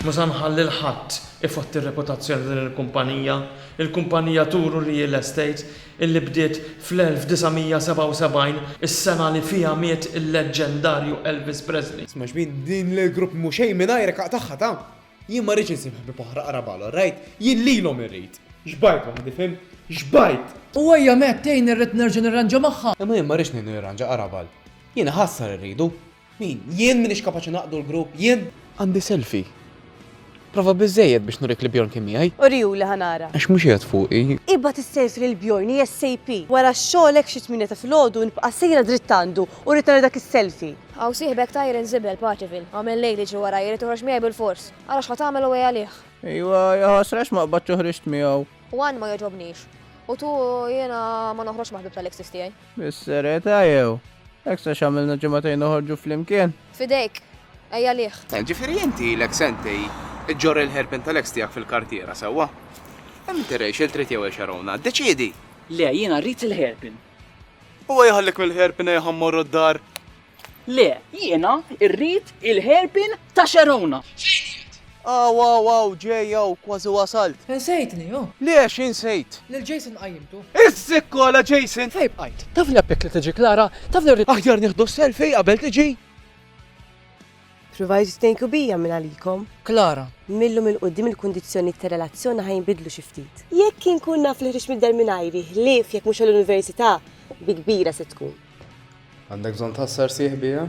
Mhu se nħalli 'l ħadd ifotti r-reputazzjoni ta' din il-kumpanija, il-kumpanija Turu Real Estate illi bdiet fl-1977, is-sena li fiha miet il-leġġendarju Elvis Presley. Sma' xbin, din l-grupp mhu xejn mingħajrek aqtagħha ta'! Jien ma rridx insib ħbieb oħra qrab għal orajt, jien lilhom irrid! Xbajt waħdi fhimt? Xbajt! U ejja Matt, tgħinni rrid nerġa' nirranġa magħha! Imma jien ma rridx ngħinu jirranġa qrab għal. Jien iħassar irridu. Min? Jien minix kapaċi naqdu l-grupp? Jien? Għandi selfie. Prova biżżejjed biex nurik li Bjorn kien miegħi. Uriju li ħa nara. Għax mhux qiegħed fuqi. Ibgħat is-selfie lil Bjorn ASAP. Wara x-xogħol hekk xi tmienja ta' filgħodu nibqa' sejra dritt għandu u rrid nara dak is-selfie. Hawn sieħbek Tyron Zibel, Paċivil. Għamel lejl jiġri warajja, jrid joħroġ miegħi bilfors. Ara x'ħa tagħmel u għej għalih. Ejwa, ja ħasra għax ma qbadtx u ħriġt miegħu. Juan ma jogħġobnix. U tu jiena ma noħroġx ma' ħbieb tal-exes tiegħi. Bis-serjetà jew? Hekk sa x'għamilna ġimagħtejn noħorġu flimkien? F'idejk, ejja liħ. Eh, ġifieri inti ilek sentej iġġorr il-hairpin tal-eks tiegħek fil-kartiera, sewwa? Hemm inti rejx il trid jew hekk Xarona, ddeċiedi! Le, jiena rrid il-hairpin. Huwa jħallik mill-hairpin ejja ħa mmorru d-dar. Le, jiena rrid il-hairpin ta' Sharona. Fejn qiegħed? Aw aw aw, ġej hawn, kważi wasalt. Insejtni, oh! Le, xi nsejt? Lil Jason qajjimtu. Iżżikkola, Jason! Fejn bqajt? Tafni appjek li tiġi Klara, tafni rrid. Aħjar nieħdu selfie qabel tiġi. Provajtu titnejnku bija minn għalikom. Klara. Mil-lum 'il quddiem il-kundizzjonijiet tar-relazzjoni ħa jinbidlu xi ftit. Jekk inkun naf li ħriġt mid-dar mingħajri, ħlief jekk mhux għall-università, bi kbira se tkun. Għandek bżonn tħassar sieħ bija?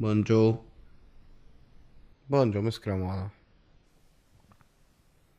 Bonġo. Bonġo, miskra maħna.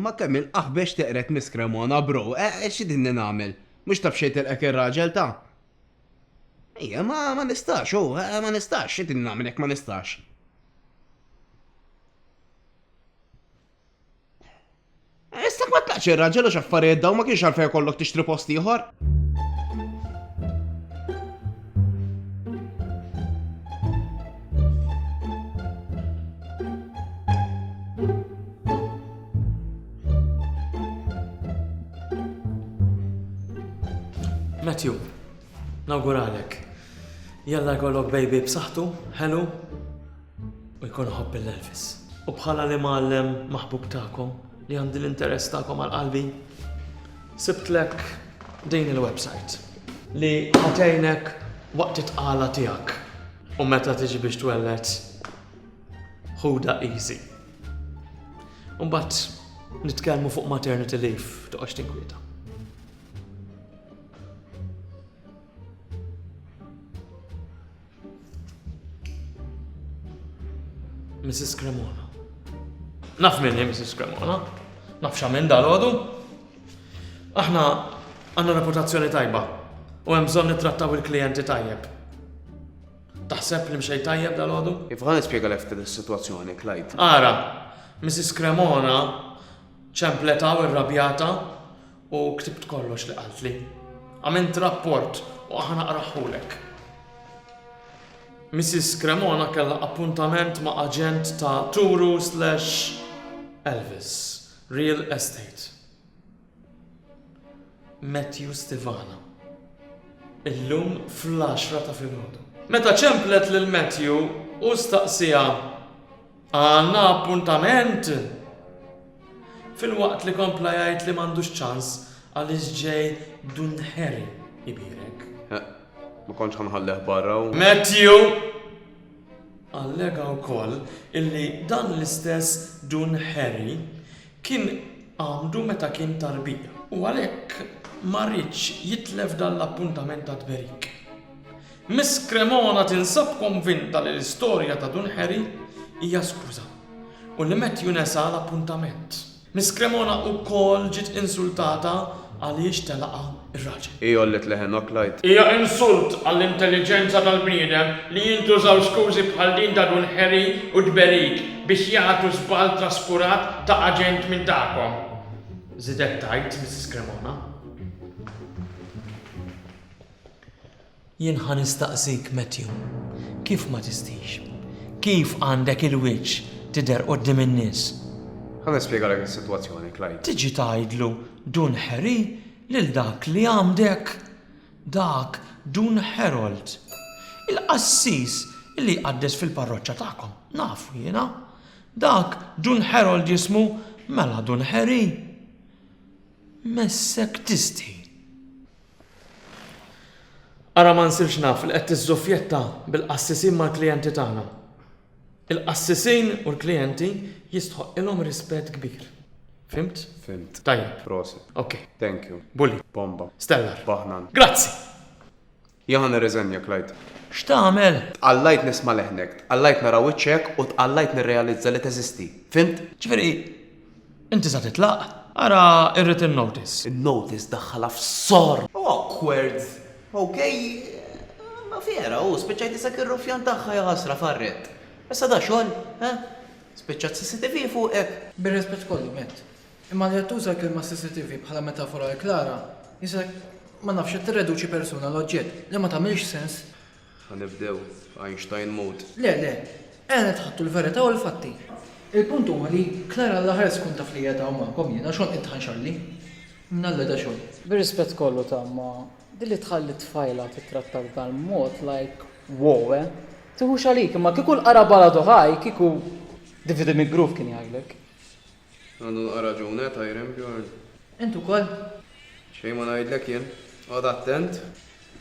Ma kemm il-qaħbex teqret Miss Cremona, bro, e xi dinni nagħmel? Mhux taf xejn tilqek ir-raġel ta'. Ejja, ma ma nistax, hu, ma nistax, xi dinni nagħmel jekk ma nistax? Issa ma tlaqx ir-raġel u x'affarijiet daw ma kienx għalfejn kollok tixtri post ieħor. Matthew, nawguralek. Jalla jkollok baby b'saħħtu, ħelu, U jkun ħobb il-Elvis. U bħala li mgħallem maħbub tagħkom li għandi l-interess tagħkom għal qalbi, sibtlek din il-website li ħatejnek waqt it-tqala tiegħek u meta tiġi biex twellet ħuda easy. Umbat, nitkellmu fuq maternity leave toqgħodx tinkwieta. Mrs. Cremona. Naf minn hi Mrs. Cremona. Naf x'għamil dal-għodu. Aħna għandna reputazzjoni tajba u hemm bżonn nittrattaw il-klijenti tajjeb. Taħseb li mxej tajjeb dal-għodu? Iva, nispjega lek din is-sitwazzjoni, Klajt. Ara, Mrs. Cremona ċempletaw irrabjata U ktibt kollox li qaltli. Għamilt rapport u ħa naqrahhulek. Missis Cremona kellha appuntament ma' aġent ta' Turu slash Elvis Real Estate. Matthew Stivana. Illum fl-għaxra ta' filgħodu. Meta ċemplet lil Matthew, hu staqsieha, Għandna appuntament! Filwaqt li kompla jgħid li m'għandux ċans għaliex ġej Dun Harry ibierek. Ma kontx ħanħalleh barra u. Matthew! Allega wkoll illi dan l-istess Dun Harry kien għamdu meta kien tarbija u għalhekk ma riedx jitlef dan l-appuntament ta' tberik. Miss Cremona tinsab konvinta li l-istorja ta' Dun Harry hija skuża u li Matthew nesa l-appuntament. Miss Cremona wkoll ġiet insultata għaliex telaqha r-raġel. Hi għollet leħen Oklajt. Hija insult għall-intelliġenza tal-bniedem li jintużaw skużi bħal din ta' Dun Harry u Deberik biex jagħtu żball traskurat ta' aġent minn tagħkom, żiedet tgħid Miss Cremona. Jien ħa nistaqsik, Matthew, kif ma tistix? Kif għandek il-wiċċ tidher quddiem in-nies? Ħa nispjegalek is-sitwazzjoni, Clyde. Tiġi tgħidlu Dun Harry lil dak li għamdek? Dak Dun Harold. Il-qassis li jqaddes fil-parroċċa tagħkom, nafu jiena. Dak Dun Harold jismu, mela Dun Harry. Messek tistħi. Ara ma nsirx naf li qed tiżżuffjetta bil-qassisin mal-klijenti tagħna. Il-qassisin u l-klijenti jistħoqqilhom rispett kbir. Fhimt? Fhimt. Tajjeb. Prosit. Ok. Thank you. Bully. Bomba. Stellar. Baħnan. Grazzi! Jien ħa nirriżenja, Clyde. X'tagħmel? Tqallajt nisma' leħnek, tqallajt nara wiċċek u tqallajt nirrealizza li teżisti. Fhimt? Ġifieri, Inti sa titlaq? Ara r-written notice. In-notice daħħalha f'sor! Awkward! OK? Imma vera, hu, spiċċajt isek ir-ruffjan tagħha, jaħasra, farret. Issa da xogħol, ha? Spiċċat CCTV fuqek! Bir-rispett kollu, Matt, imma li qed tuża l-kelma CCTV bħala metafora għal Clara, jisek, ma nafx, qed tirreduċi persuna għal oġġett li ma tagħmilx sens. Ħa nibdew b'Einstein mode. Le, le. Għened ħadtu l-verità u l-fatti. Il-punt huwa li Clara Alla ħares tkun taf li qiegħed hawn magħkom jien għax għonqi tħanxarli. Mnalla da xogħol. Bir-rispett kollu ta' imma, din li tħalli t-tfajla tittratta b'dan mod like wow eh. Tiħux għalik imma kieku l-qara baladu ħaj kieku Divide mi groove kien jgħidlek. Għandu naqra raġun eh Tyren Bjorn? Int ukoll? Xejn ma ngħidlek jien. Oqgħod attent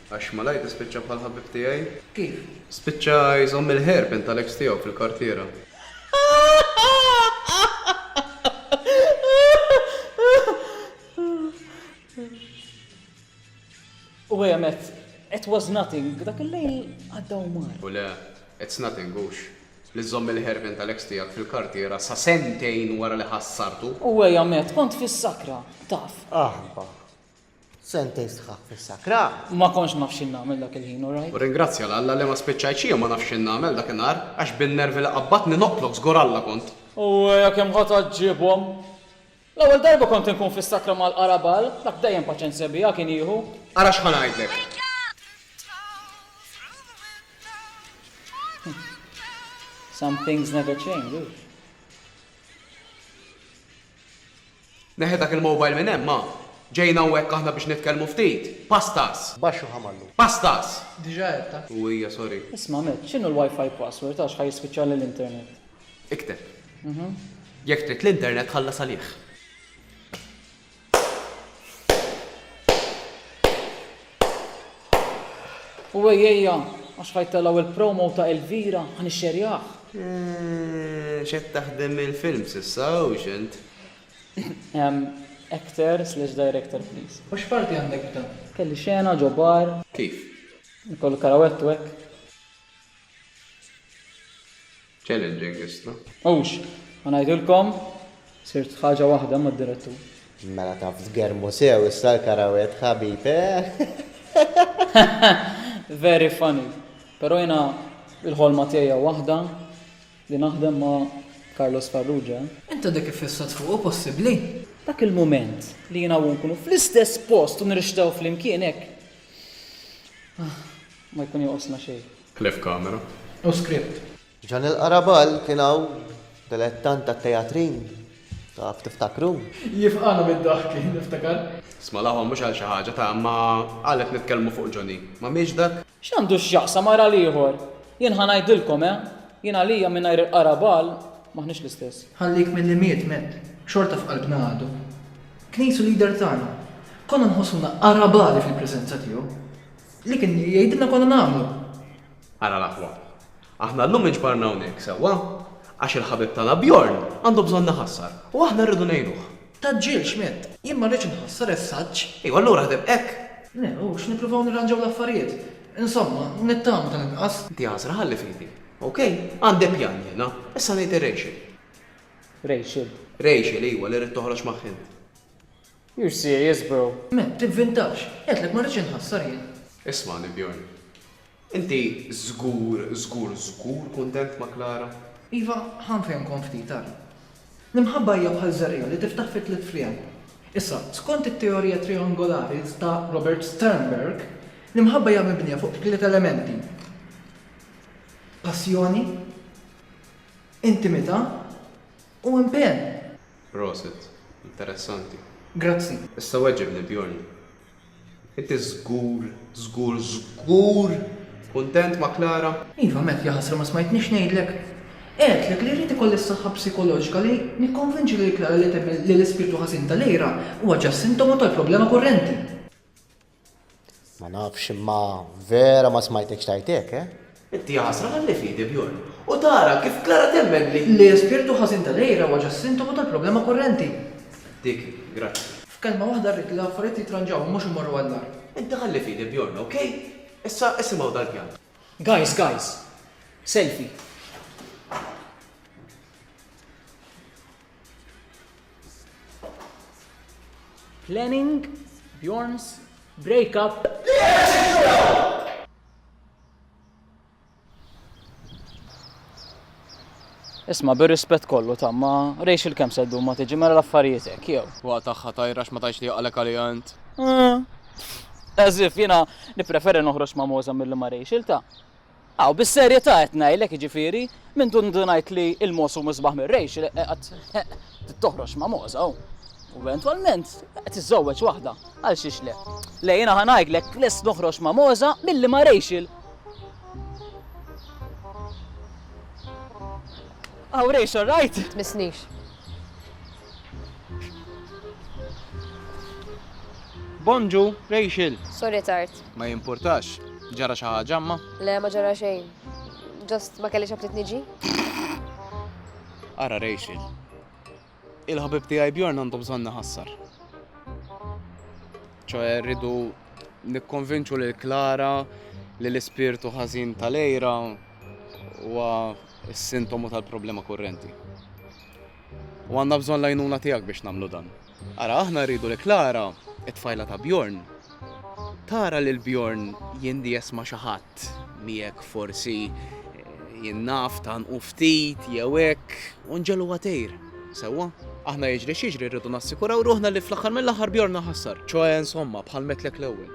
għax malajr tispiċċa bħal ħabib tiegħi. Kif? Spiċċa jżomm il-hair pin tal-ex tiegħu fil-kartiera. U hi għemet, It was nothing, dak il-lejl għadda u mar. U le, it's nothing, hux, li żżomm il-ħerfien tal-eks tiegħek fil-kartiera sa sentejn wara li ħassartu. U hi għemet, Kont fis-sakra, taf. Aħbah. Sentejn sħaħ fis-sakra! Ma kontx naf x'in nagħmel dak il-ħin, u rajt. U rringrazzja 'l Alla li ma spiċċajt xi jum ma nafx x'in nagħmel dak in-nhar, għax bin-nervi li qabbatni noqtlok żgur Alla kont. U hi kemm ħa tgħaġġibhom! L-ewwel darba kont inkun fis-sakra mal-Qara Bal, dak dejjem paċenzja biha kien jieħu. Ara x'ħa ngħidlek. Some things never change, hux? Neħħi dak il-mobile minn hemm, ha? Ġejna hawnhekk aħna biex nitkellmu ftit. Pastas! Baxx u ħamallu. Pastas! Diġà għedtha. U hija, sorry. Isma', Matt, x'inhu l-WiFi password għax ħa jispiċċalli l-internet? Ikteb. Jekk trid l-internet ħallas għalih. U ejjejja, għax ħajtelaw il-promo ta' Elvira, ħan ixxerjah. Eh, xed taħdem il-film sissa u xent? Actor slash director, please. U x'parti għandek b'dan? Kelli xena ġobar. Kif? Nikollu karawettu hekk. Challenging issa. Hux, ħa ngħidilkom, sirt ħaġa waħda mad-direttur. Mela taf tgermu sew issa l-karawet ħabib, eh? Very funny. Però jiena il-ħolma tiegħi waħda li naħdem ma' Carlos Farrugia. Inta dik iffissat fuqu possibbli? Dak il-mument li jiena u nkunu fl-istess post u nirxtew flimkien hekk. Ma jkun jonqosna xejn. Ħlief kamera u script. Ġan il-Qaraball kien hawn dilettant tat-teatrin, taf tiftakru? Jifqagħna mid-daħki, niftakar. Smalahom mhux għal xi ħaġa ta' imma għalhekk nitkellmu fuq Johnny. Ma mhiex dak? X'għandu x'jaqsam ara l-ieħor? Jien ħa ngħidilkom eh! Jien għalija mingħajr il-Qaraball m'aħniex l-istess. Ħallik milli miet miet, xorta f'qalbna għadu. Kien qisu leader tagħna. Konna nħossuna Qarabali fil-preżenza tiegħu. Li kien jgħidilna konna nagħmlu. Ara l-aħwa. Aħna llum inġbarna hawnhekk, sewwa? Għax il-ħabib tagħna Bjorn għandu bżonn iħassar u aħna rridu ngħinuh. Tgħaġġilx, Matt. Jien ma rridx inħassar is-saġġ. Ejja, allura ħdem hekk. Le, hux, nippruvaw nirranġaw l-affarijiet. Insomma, nittama tal-inqas. Inti għażra ħalli f'idi. OK? Għandi pjan jiena. Issa ngħid ir-Rachel. Rachel? Rachel, ejwa, li rrid toħroġ ma' Khin. You're serious bro? Matt, tivvintax! Għedtlek ma rridx inħassar jien. Ismagħni Bjorn. Inti żgur, żgur, żgur kuntent ma' Klara? Iva, ħa nfehmkom ftit, ara. L-imħabba hija bħal żerriegħa li tiftaħ fi tliet fliegħel. Issa, skont it-teorija triangolari ta' Robert Sternberg, l-imħabba hija mibnija fuq tliet elementi, passjoni, intimità, u impenn. Proset. Interessanti. Grazzi. Issa weġibni Bjorn. Inti żgur, żgur, żgur kuntent ma' Klara? Iva Matt, jaħasra ma smajtnix ngħidlek. Għedtlek li rrid ikolli s-saħħa psikoloġika li nikkonvinċi lil Klara li temmen li l-ispirtu ħażin ta' Lyra huwa ġast sintomu tal-problema kurrenti. Ma nafx imma vera ma smajtekx tgħid hekk, eh? Inti ja ħasra ħalli fidi Bjorn u tara kif Klara temmen li. L-ispirtu ħażin ta' Lejra huwa ġa sintomu tal-problema kurrenti. Dik, grazzi. F'kelma waħda rrid li l-affarijiet jitranġaw u mhux imorru għall-agħar. Inti ħalli fidi Bjorn, ok? Issa isimgħu dal-pjan. Guys, guys. Selfie. Planning Bjorn's breakup. Isma' bir-rispett kollu ta' ma rejx il-kemm se ddum ma tiġi mela l-affarijiet hekk jew. Huwa tagħha tajra ma tgħidx li jaqalek għaliha int. As if jiena nippreferi noħroġ ma' Moza milli ma' Rachel ta'. Aw, bis-serjetà qed ngħidlek, jiġifieri, minn dun indunajt li l-mogħoż hu misbaħ mir-rejx, qegħedt trid toħroġ ma' mogħoża u eventwalment qed iżżewweġ waħda, għalxiex le? Le, jiena ħa ngħidlek, lest noħroġ ma' mogħoża milli ma' Rachel! Aw, Rachel, rajt? Tmissnix. Bonġu, Rachel! Sorry tard. Ma jimpurtax, ġara xi ħaġa imma? Le, ma ġara xejn. Just ma kellix apptit niġi. Ara Rachel. Il-ħabib tiegħi Bjorn għandu bżonn iħassar. ċoħe rridu nikkonvinċu lil Klara li l-ispirtu ħażin tal-ejra huwa s-sintomu tal-problema kurrenti. U għandna bżonn l-għajnuna tiegħek biex nagħmlu dan. Ara, aħna rridu li Klara, it-tfajla ta' Bjorn, tara lil Bjorn jindies ma' xi ħadd li jekk forsi jien naf tanqu ftit jew hekk u nġelu għatejr. Sewwa, aħna jiġri x'jiġri rridu nassikuraw ruħna li fl-aħħar mill-aħħar Bjorn ħassar, ċoe insomma bħal metlek l-ewwel.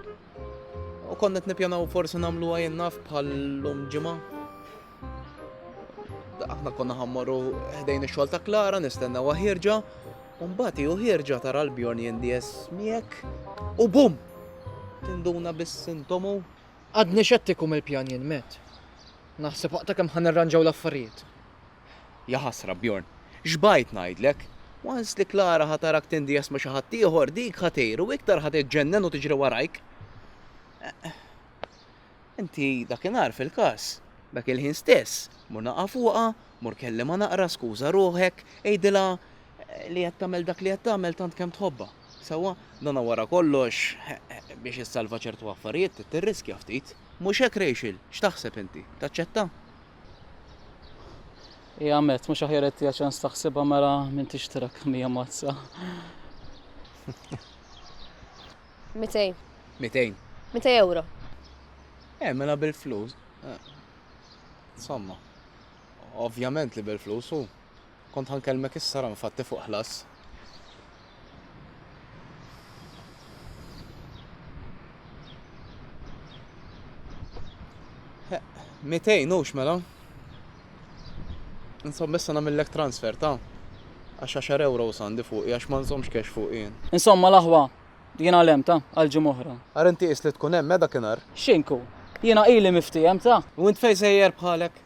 U kont qed nippjanaw forsi nagħmluha jien naf bħal lum ġimgħa. Aħna konna ħammorru ħdejn ix-xogħol ta' Klara nistennewha ħierġa, u mbagħad hi ħierġa tara l-Bjorn jindies miegħek u bum! Tinduna bis-sintomu. Għadni xettiku mill-pjan jien met. Naħseb waqta kemm ħan irranġaw l-affarijiet. Ja ħasra Bjorn, x'bajt ngħidlek? Once li Klara ħatarak tindies ma' xi ħaddieħor dik ħatejr u iktar ħa tiġġennen u tiġri warajk. Inti dakinhar fil-każ. Dak il-ħin stess, mur naqgħa fuqha, mur kellimha naqra, skuża ruħek, għidilha li qed tagħmel dak li qed tagħmel tant kemm tħobbha. Sewwa? Dana wara kollox, biex issalva ċertu affarijiet trid tirriskja ftit. Mhux hekk Rachel? X'taħseb inti? Taċċetta? Hi għamiet, mhux aħjar ittiha ċans taħsibha mela minn tixtrek mija mazza? Mitejn. Mitejn. Mitej ewro. Eh, mela bil-flus. Eh, insomma, ovvjament li bil-flus u kont ħankelmek issa ram fatti fuq ħlas. Eh, mitejn ux mela. Insomma issa nagħmillek transfer ta' għax għaxar ewros għandi fuqi għax ma nżommx cash fuqi jien. Insomma l-aħwa jien għalemt ta' għal ġimgħa oħra. Ara inti qis li tkun hemm eh dakinhar. X'inku? Jiena ili miftiehem ta'. U int fejn sejjer bħalek?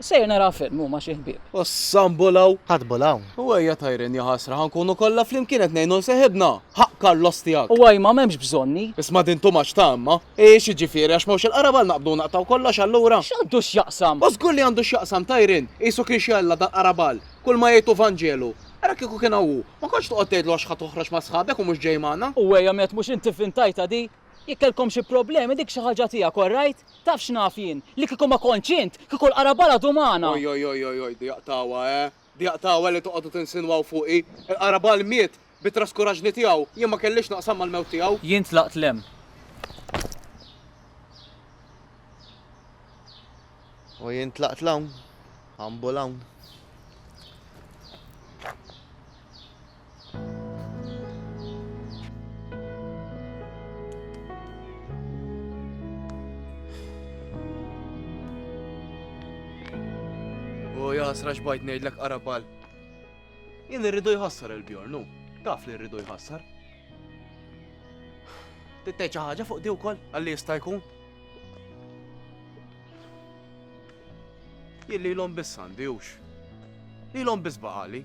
Sejjer nara film u ma' xi ħbieb. Ossa nbulgħu! Ħadd bulgħu? U ejja tajrin jaħasra ħa nkunu kollha flimkien qed ngħinu 'l seħibna! Ħaqq Carlos tiegħek. U ajma m'hemmx bżonni. Isma' din too much ta' imma. Eeh x'jiġifieri għax m'hawnx il-qraba għal naqbdu u naqtgħu kollox allura? X'għandu x'jaqsam? O żgur li għandu x'jaqsam ta' Irene, qisu kien xi Alla dal-qraba għal, kull ma jgħid hu vanġelu. Ara kieku kien hawn hu, ma kontx toqgħod tgħidlu għax ħa toħroġ ma' sħabek u mhux ġej magħna. U ejja met mhux inti vvintajtha di? Jekk kellkom xi problemi dik xi ħaġa tiegħek all right? Taf x'naf jien? Li kieku ma kontx int, kieku l-qraba għal għadu magħna. Oj oj oj oj oj di jaqtgħuha eeh. Dejjaq t'hawa li toqogħdu tinsinwaw fuqi. Il-qarabal miet bit-traskuraġni tiegħu, jien ma kellix x'naqsam mal-mewt tiegħu. Jien tlaqt 'l hemm. U jien tlaqt 'l hawn, humble hawn. U jaħsra xbajt nejdlek qarabal. Jien irridu jħassar il-bjornu. Taf li rridu jħassar. Tittej ħaġa fuq di wkoll għalli jista' jkun. Jilli l-om biss għandi jux. Li l-om biss baqali.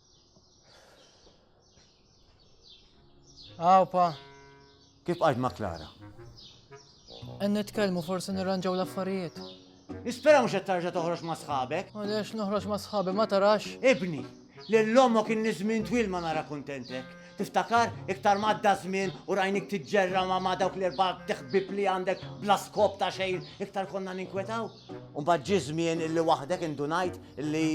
Għawpa. Kif għalt ma' Klara? En nitkellmu forsi nirranġaw l-affarijiet. Nispera mhux qed tarġa' toħroġ ma' sħabek. Għaliex noħroġ ma' sħabi ma tarax? Ibni, lil ommok inni żmien twil ma nara kuntentek. Tiftakar? Iktar ma għadda żmien u rajnik tiġġerra ma' ma' dawk l-erba' teħbib li għandek bla skop ta' xejn, iktar konna ninkwetaw. U mbagħad ġie żmien illi waħdek indunajt illi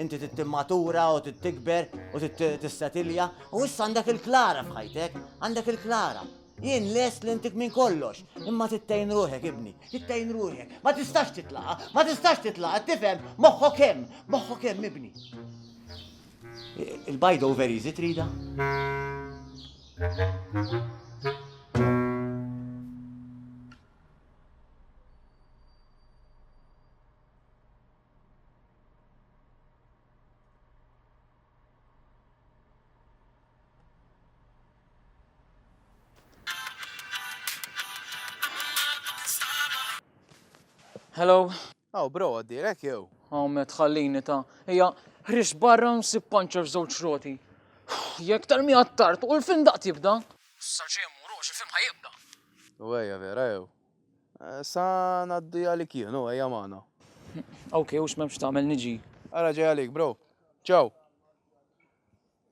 inti trid timmatura u trid tikber u trid tissetilja u issa għandek il-Klara f'ħajtek, għandek il-Klara. Jien lest li intik minn kollox, imma tittejn ruħek ibni, tittejn ruħek, ma tistax titlaqa, ma tistax titlaqa, tifhem, moħħok hemm, moħħok hemm ibni. Il-bajda u veri zit rida? Hello. Aw, bro, għaddirek jew. Aw, met ħallini ta' hija ħriġ barra nsib panċa f'żewġ roti. Jekk tal-mija tard u l-film daqt jibda. Sa ġejjem murux, il-film ħajibda. U ejja vera jew. Eh, sa naddi għalik jien, u ejja magħna. Ok, u x'memx tagħmel niġi. Ara ġej għalik, bro. Ciao.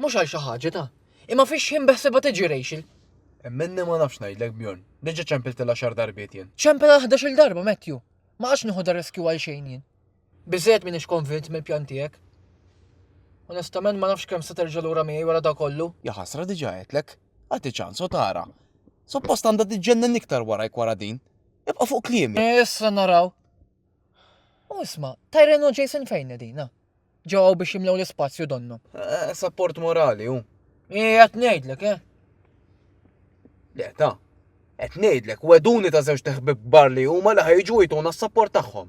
Mhux għal xi ħaġa ta'. Imma fix-xħin beħsibha tiġi Rachel. Minni ma nafx ngħidlek Bjorn, diġà ċempiltilha xar darbiet jien. Ċempilha ħdax il darba Matthew. Ma għadx nieħu da riskju għal xejn jien. Biżżejjed m'iniex konvint mill-pjan tiegħek. Onestament ma nafx kemm se terġa' lura miegħi wara da kollu. Ja ħasra diġà għedtlek, agħti ċans u tara. Suppost għandha tiġġennen iktar warajk wara din. Ibqa' fuq kliemi. Issa naraw. U isma, Tyrone u Jason fejn edina? Ġew hawn biex jimlew l-ispazju donnu. Eh, sapport morali hu. Ija tnejdlek, eh? Le, ta' qed ngħidlek weduni ta' żewġ teħbib bar li huma li ħajġu jtuna s-sapport tagħhom.